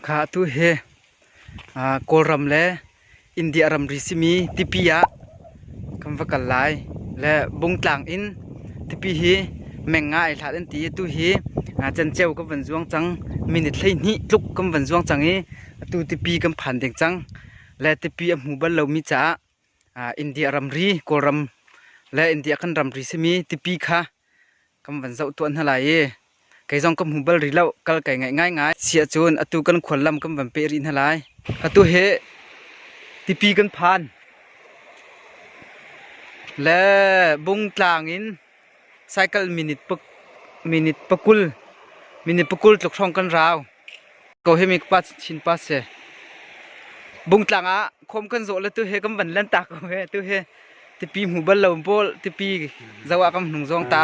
Kha atu hi Kawlram le India ramri simi tipi ah kan va kal lai. Le Bungtlang in tipi hi meng nga ai hlat an ti i atu hi Cenceu kan van zuang cang. Minute hleihnih tluk kan van zuang cang i atu tipi kan phan ding cang. Le tipi a hmu bal lomi caah India ramri, Kawlram le India kan ramri simi tipi kha kan van zoh tuah hna lai i kei zong ka hmu bal rih lo. Kal kai ngaih ngaingai. Siah cun atu kan khual lam kan van peh rih hna lai. Atu hi tipi kan phan. Le Bungtlang in Cycle minute pa, minute pakul minute pakul tluk hrawng kan rau. Ko hi mi pa chin pa si. Bungtlang ah khom kan zawh le tu he kan van lan ta ko he tu he tipi hmu bal lo bol tipi zawa kan hnung zong ta.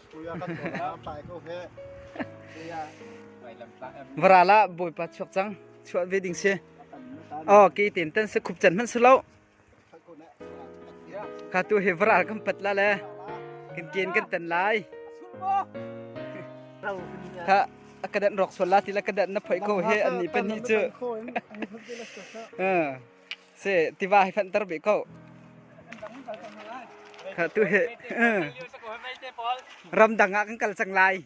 Varal ah Bawipa chuak cang chuah ve ding si. Oh ke ten tan se khup chan man se lo. Ka tu he varal kan pat la le. Kan ken kan tan lai. Ka akadan rok sola tila kadan na phoi ko he ani pani chu. Eh. se tiva hi fanter bi ko kha tu he ramdang ah kan kal cang lai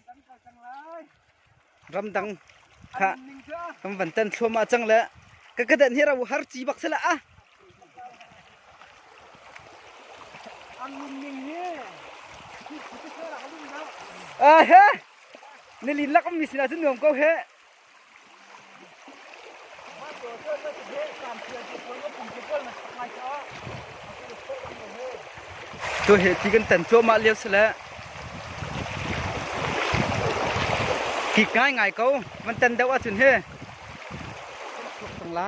ramdang kha kan van tan thluam a cang le ka kadan hi rawu har chi bak sala a a he nilin lakam mi sila chu nuam ko he Cu hi ti kan tan cuahmah lio si le kik ngaingai ko van tan deuh ahcun hi. Tuk tung la.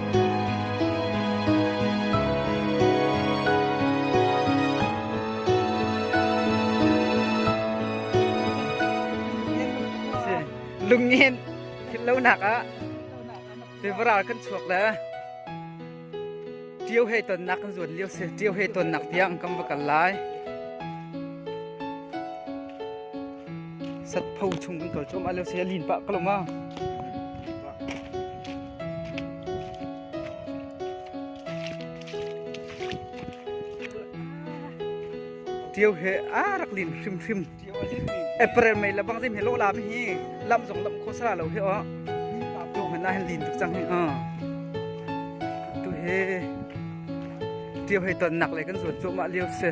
lungin thillonak ah tivaral kan chuak le ṭio he tonnak kan zuan lio si ṭio he tonnak tiang kan va kal lai satpho chung kan kal chom a leo si lin pa kaloma Tio he a rak lin hrim hrim. April mei la bang zim he lo la bi hi lam zong lam kho sara lo he o. Tu han na han lin tuk chang hi o. Tu he tio he ton nak le kan zuat chu ma liu se.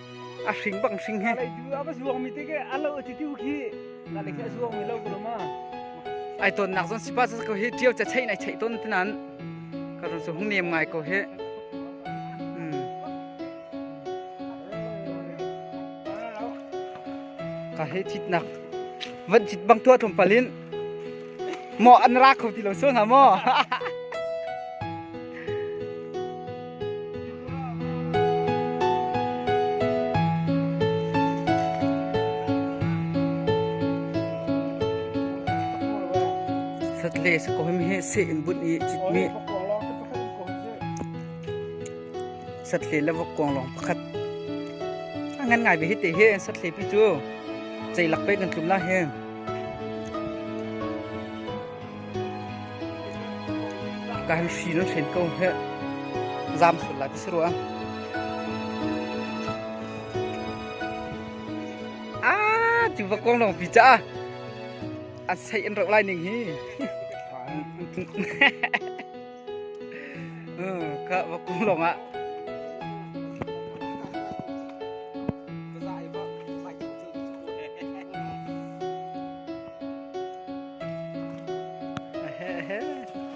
a hring bang hring he a va zuang mi te ke a lo ti tu khi na le khi a zuang mi lo ko ma ai ton nak zon si pa ko he tiau cha chei nai chei ton tnan ka ron so hung nem ngai ko he ka he thit nak vat chit bang tua thum palin Maw an ra kho ti lo sual hna maw? Satle sa ko him he se in bun i chit mi satle la vok kong long pakhat ngan ngai be hi te he satle pi chu chei lak pe kan tlum la he Kan hri nan hlen ko heh. Zam sual lai ka si rua. Ah, cu va kong long pi cha. An sei an rok lai ning hi. ka va kung lawng ah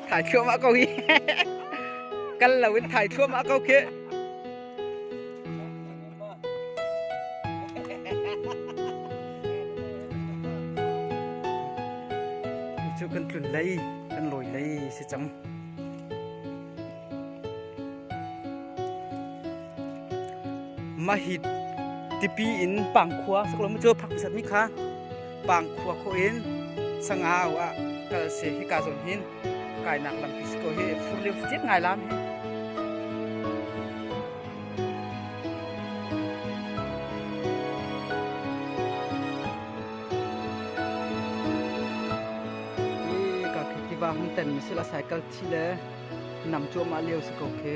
thai thluam ah ko hi kal lo in thai thluam ah ko khi Cu kan tlun lei, kan lawi lei si cang. Mahit tipi in pangkhua saklo mu cu phak pisat mi kha pangkhua kho in sangau ah kal se hi ka zon hin kainak lampi si ko hi fur le fut ngai la ka khi tiva hung ten mi sila cycle thi le nam chuah ma leo si ko khi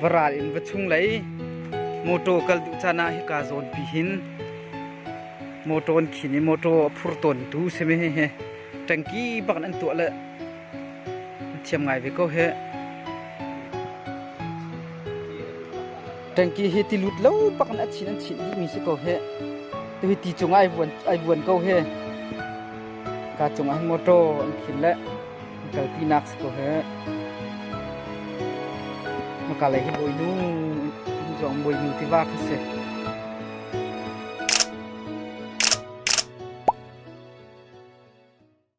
Va ral in va chung lei motor kal duh caan ah hika zawn pi hin motor an khin i motor a phur tawntu si mi hi tangki bak an tuah le thiam ngai ve ko he tangki hi ti lut lo bak an achin an chin dih mi si ko he tu hi ti cung ai vuan ai vuan ko he ka cung ah motor an khin le i kalpinak si ko heh. Maka lei hi bawinu, zong bawinu tiva kan si.